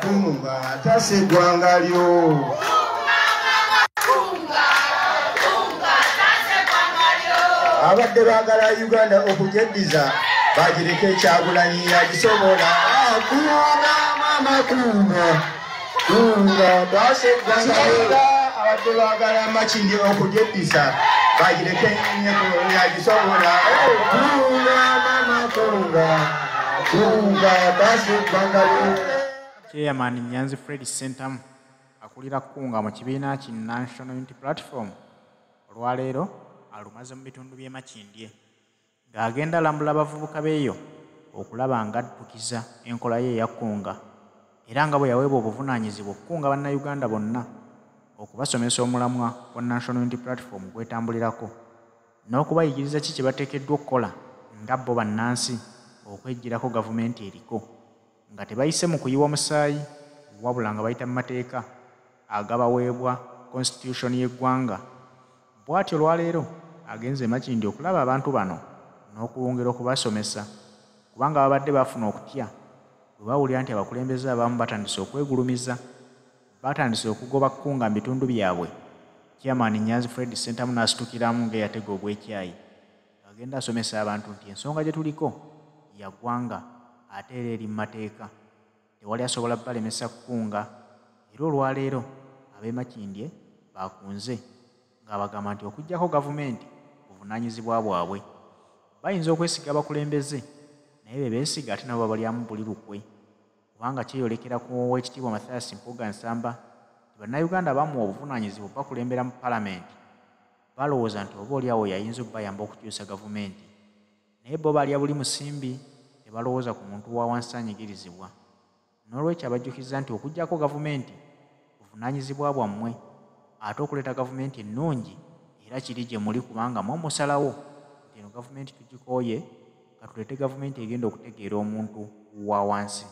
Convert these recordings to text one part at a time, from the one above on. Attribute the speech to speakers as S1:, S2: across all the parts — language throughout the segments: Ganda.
S1: Kunga tasa eggwanga lyo. abadde baagala uganda okugyeddiza bagireka ekyagulanyi yagisobola kunga mama kunga kunga tasa eggwanga lyo abadde baagala makindi okugyeddiza bagireka enyenye kuno yagisobola kunga mama kunga chairman
S2: nyanzi fred sentamu akulira kunga mu kibiina ki national unity platform olwaleero alumaze mu bitundu by'e makindye ng'agenda alambula abavubuka beeyo okulaba nga addukiza enkola ye eya kunga era nga bwe yaweebwa obuvunaanyizibwa okukunga bannayuganda bonna okubasomesa omulamwa gwa national unity platform gwetambulirako n'okubayigiriza ki kye bateekeddwa okukola nga bo bannansi okweggyirako gavumenti eriko nga tebayise mu kuyiwa musaayi wabula nga bayita mu mateeka agabaweebwa konsitityushoni y'eggwanga bw'atyo olwaleero agenze emakindi okulaba abantu bano n'okwongera okubasomesa kubanga babadde bafuna okutya bwe bawulira nti abakulembeze abamu batandise okwegulumiza baatandise okugoba kkunga mu bitundu byabwe chairman nyanzi fred sentamu n'asitukiramu ng'eyatega obwekyayi agenda asomesa abantu nti ensonga gye tuliko yagwanga ate era eri mu mateeka tewali asobola balemesa kukunga era olwaleero ab'emakindye baakunze ng'abagamba nti okuggyako gavumenti buvunaanyizibwa bwabwe bayinza okwesiga abakulembeze naye be beesiga ate nabo babalyamu buli lukwe kubanga kyeyolekera ku owekitiibwa Mathias Mpuuga Nsamba nti bannayuganda abamuwa obuvunaanyizibwa obubakulembera mu palamenti balowooza nti oba oli awo yayinza okubayamba okukyusa gavumenti naye bo balya buli musimbi tebalowooza ku muntu wa wansi anyigirizibwa n'olwekyo abajjukizza nti okugyako gavumenti buvunaanyizibwa bwammwe ate okuleeta gavumenti ennungi era kiri gye muli kubanga mwe musalawo nti eno gavumenti tugikooye nga tuleete gavumenti egenda okutegeera omuntu wa wansi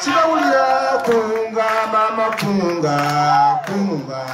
S1: sibawulira kunga mama kunga kunga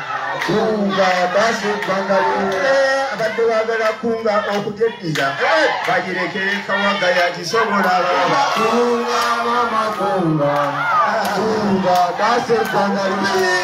S1: kunga basi ebbanga lyonna abadde wagala kunga okujeddiza bagirekere kawaga yakisobola baba kunga mama kunga kunga basi ebbanga lyonna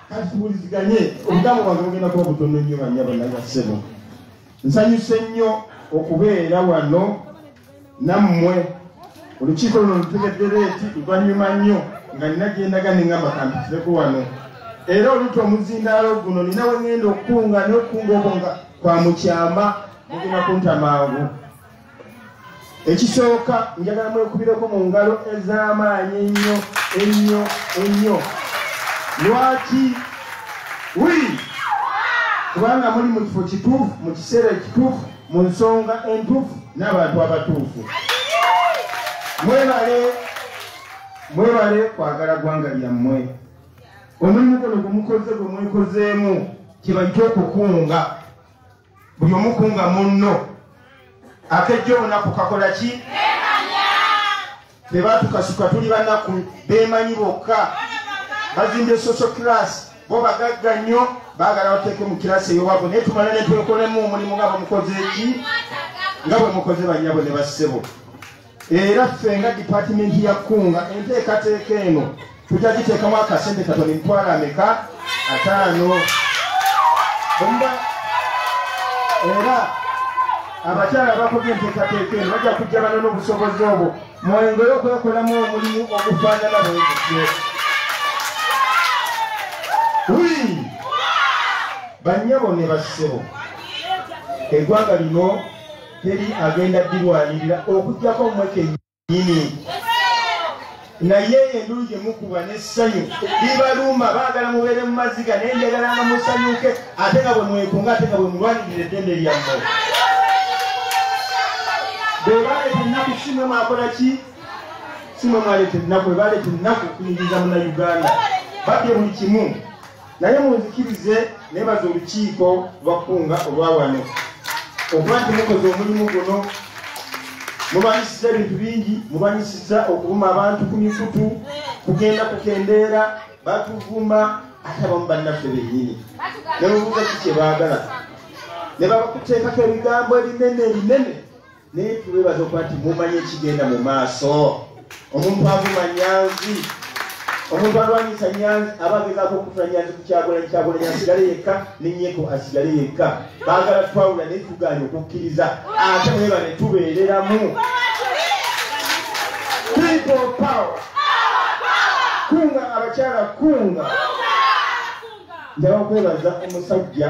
S1: kati tuwuliziganye obugambo bwange bugenda kuba butono nnyo banyabo nagasebo nsanyuse nnyo okubeera wano nammwe olukiiko luno lutegeddera eti luvannyuma nnyo nga nina gyendaga nengamba kampitireku wano era oluta omuzindaalo guno nina wengenda okukunga nokukunga obwo nga kwa mukyama mugenda kunta mangu ekisooka njagala mwekubireko mu ngalo ez'amaanyi ennyo ennyo ennyo lwaki wi kubanga muli mu kifo kituufu mu kiseera ekituufu mu nsonga entuufu n'abantu abatuufu mwebale mwebale kwagala ggwanga lyammwe omulimu guno gumukoze gwe mwekozeemu kibajja okukunga buli omukunga munno akejja olunaku kakola ki tebatukasuka tuli banaku bemanyi bokka bazimbye social class bo bagagga nnyo bagala bateeke mu kirasi eyowabwe naye tumale netwekolemu omulimu nga bwemukoze eki nga bwemukoze banyabwe ne bassebo era ffe nga dipatimenti ya kunga enteekateeka eno tujja giteekamu akasente katoni mitwalo ameka ataano era abakyala bakoze enteekateeka eno bajja kujja bana n'obusobozi obwo mwengere okwekolamu omulimu ogufaanana bwegutyo bannyabo ne bassebo eggwanga lino teri agenda dirwanirira okujjako mwe kenyini naye endulu gyemukuba nessanyu libaluuma baagala mubeere mu maziga naye njagala nga musanyuke ate nga bwe mwekunga ate nga bwe mulwanirira eddembe lyammwe bwebaleeta ennaku simwe mwakola ki simwe mwaleeta ennaku bwebaleeta ennaku kuyingiza muna uganda babye buli kimu naye munzikirize nebaza olukiiko lwakkunga olwawano okuba nti mukoze omulimu guno mubanyisiza ebintu bingi mubanyisiza okuvuma abantu ku mikutu kugenda kukendeera batuvuma ate abamu bannaffe bennyini nemubuuza ki kye baagala ne babakuteekako ebigambo ebinene ebinene naye tuwebaza okuba nti mumanye ekigenda mu maaso omuntu avuma nyanzi omuntu alwanyisa nyanzi aba agezako okufuna nyanzi kukyagulanyi kyagulanyi asigale yekka nenyeko asigale yekka bagala twawula naye tuganye okukkiriza ate mweba ne tubeereramu kunga abakyala kunga njaba kwebaza omusajja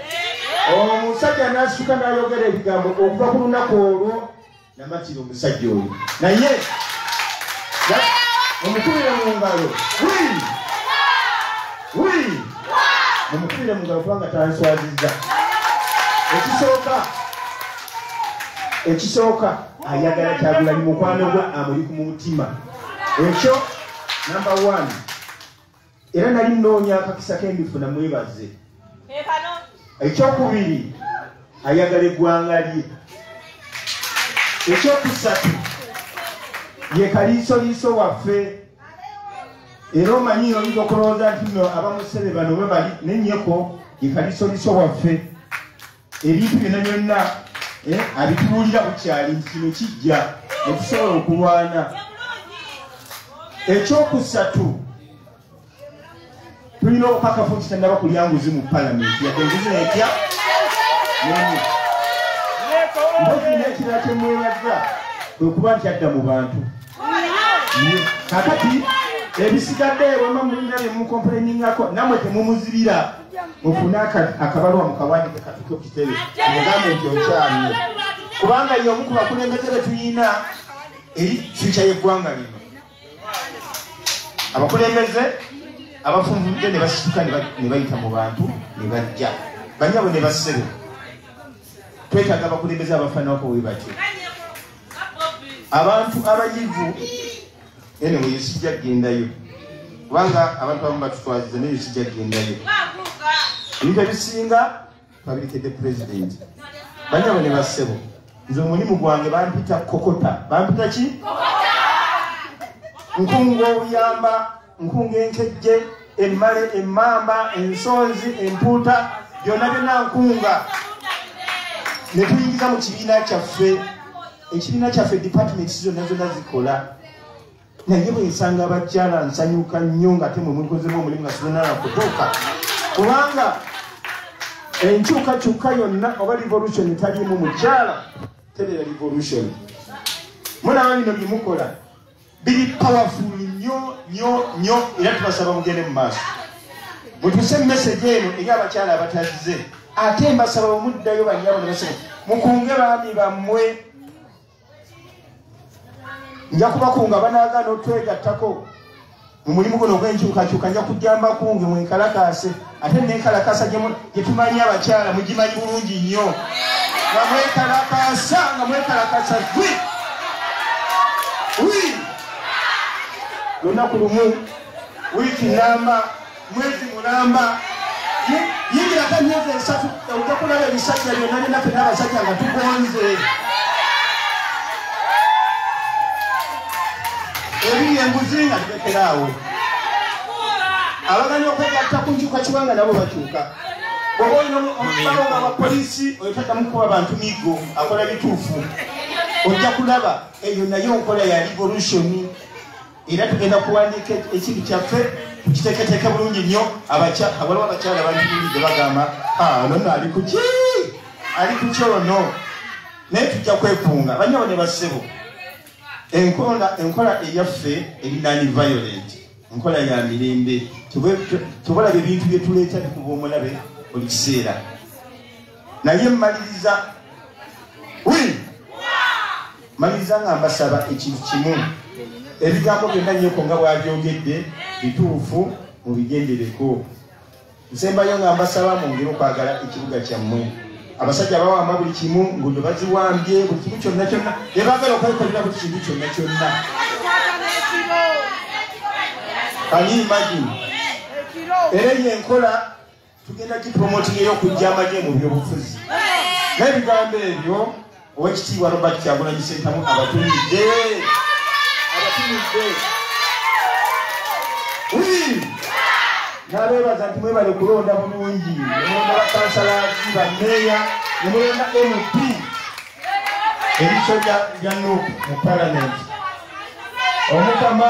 S1: omusajja n'asituka n'ayogera ebigambo okuva ku lunaku olwo namatira omusajja oyo naye omukubire mu ngalo omukubire mu ngalo kubanga tanswazizza ekisooka ekisooka ayagala kyagulanyi mukwano gwe amuli ku mutima ekyo namba one era nali nnoonya akakisa ke ndifuna mwebaze ekyokubiri ayagala eggwanga lye ekyokusatu ye kaliisoliiso waffe era omanyi oyinza okulowooza nti no abamusebe bano bwe bali nenyeko ye kaliisoliiso waffe ebintu byonna byonna eh, abituwulira bukyali nti kino kijja netusobola okulwana ekyokusatu tulina okukakafu nti tannaba kulya nguzi mu palamenti yadde nguzi netya nemu mbozi nekirala kyemwebaza kwekuba nti adda mu bantu kakati ebisigadde ewema mulina byemukomplaininako namwe temumuzibira mufune akabalwa mukawandike katuke kukitebe mugambe nti okyamye kubanga ye omu ku bakulembeze betuyina eri fyuca yeggwanga lino abakulembeze abafunvudde ne basituka ne bayita mu bantu ne bajja banyabo ne basebe twetaaga abakulembeze abafaanawako we batyo abantu abayivu anyway sijja kugendayo kubanga abantu abamu batutwaziza naye sijja kugendayo ebintu ebisinga twabirikedde pulezidenti banyabo ne bassebo nze omulimu gwange bampita kokota bampita ki nkunga obuyamba nkunga enkejje emmale emmamba ensonzi empuuta byonna byonna nkunga ne tuyingiza mu kibiina kyaffe ekibiina kyaffe department zonna zonna zikola naye bwensanga abakyala nsanyuka nnyo nga temwe mulikozemu omulimu nga sinanala kutuuka kubanga enkyukakyuka yonna oba revolution etaliimu mukyala tebeera revolution mulaba bino byemukola biri powerful nyo nyo nyo era tubasaba mugende mu maaso mutuse message eno eri abakyala abatazize ate mbasaba omuddayo banyabo nebasaba mukunge baami bammwe nja kubakunga banagaana otwegattako mu mulimu guno ogwenkyukakyuka nja kujjambakunge mwenkalakaase ate nekalakasa gyetumanyi abakyala mugimanyi bulungi nnyo nga mwekalakasa nga mwekalakasa gwe wi lunaku lumu wiiki namba mwezi mulamba yingira ka myezi esatu ojja kulaba ebisajja byonna byonna fena abasajja nga tugonze ebiri enguzi nga awo abagana okwegatta ku nkyuka kibanga nabo bakyuka oba olina balonga abapoliisi oyo taddamu kukuba bantu migo akola bituufu ojja kulaba eyo naye nkola ya revolution era tugenda kuwandiika ekintu kyaffe kukiteeketeeke bulungi nnyo waliwo abakyala bantuulidde bagamba nono ali kuki ali kukyono naye tujja kwekunga banyabo ne bassebo enkola enkola eyaffe eri nani violent enkola ya mirembe tebalabe ebintu byetuleeta bikuba omulabe buli kiseera naye mmaliriza wi mmaliriza nga mbasaba ekintu kimu ebigambo byonna nyoko nga bwabyogedde bituufu mubigendereko nsembayo nga mbasaba mwongere okwagala ekibuga kyammwe abasajja bawamba buli kimu ngudo baziwambye buli kimu kyonna kyonna ebagala okwekolera buli kintu kyonna kyonna kaniimagi era eyo enkola tugenda kipromotinga eyokujja amagye mu byobufuzi n'ebigambo ebyo Owekitiibwa Robert Kyagulanyi Ssentamu abatumidde abatumidde nabeebaza nti mwebale kulonda bulungi nemulonda bakansalaki bameeya nemulonda mp ebiso bya nup mu palamenti omukama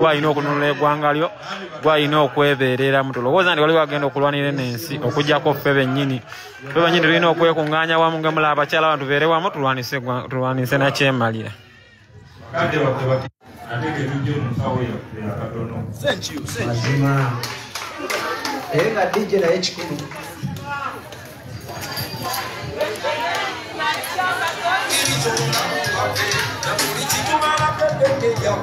S3: gwalina okununula egwanga lyo gwalina okwebeerera mu tulowooza nti waliwo agenda okulwanira eno ensi okujjako ffe bennyini fe bennyini tulina okwekunganya wamu ngemula abakyala abantu beere wamu tulwanise nakyemalira
S4: naye nga dj naye kikulu Thank you.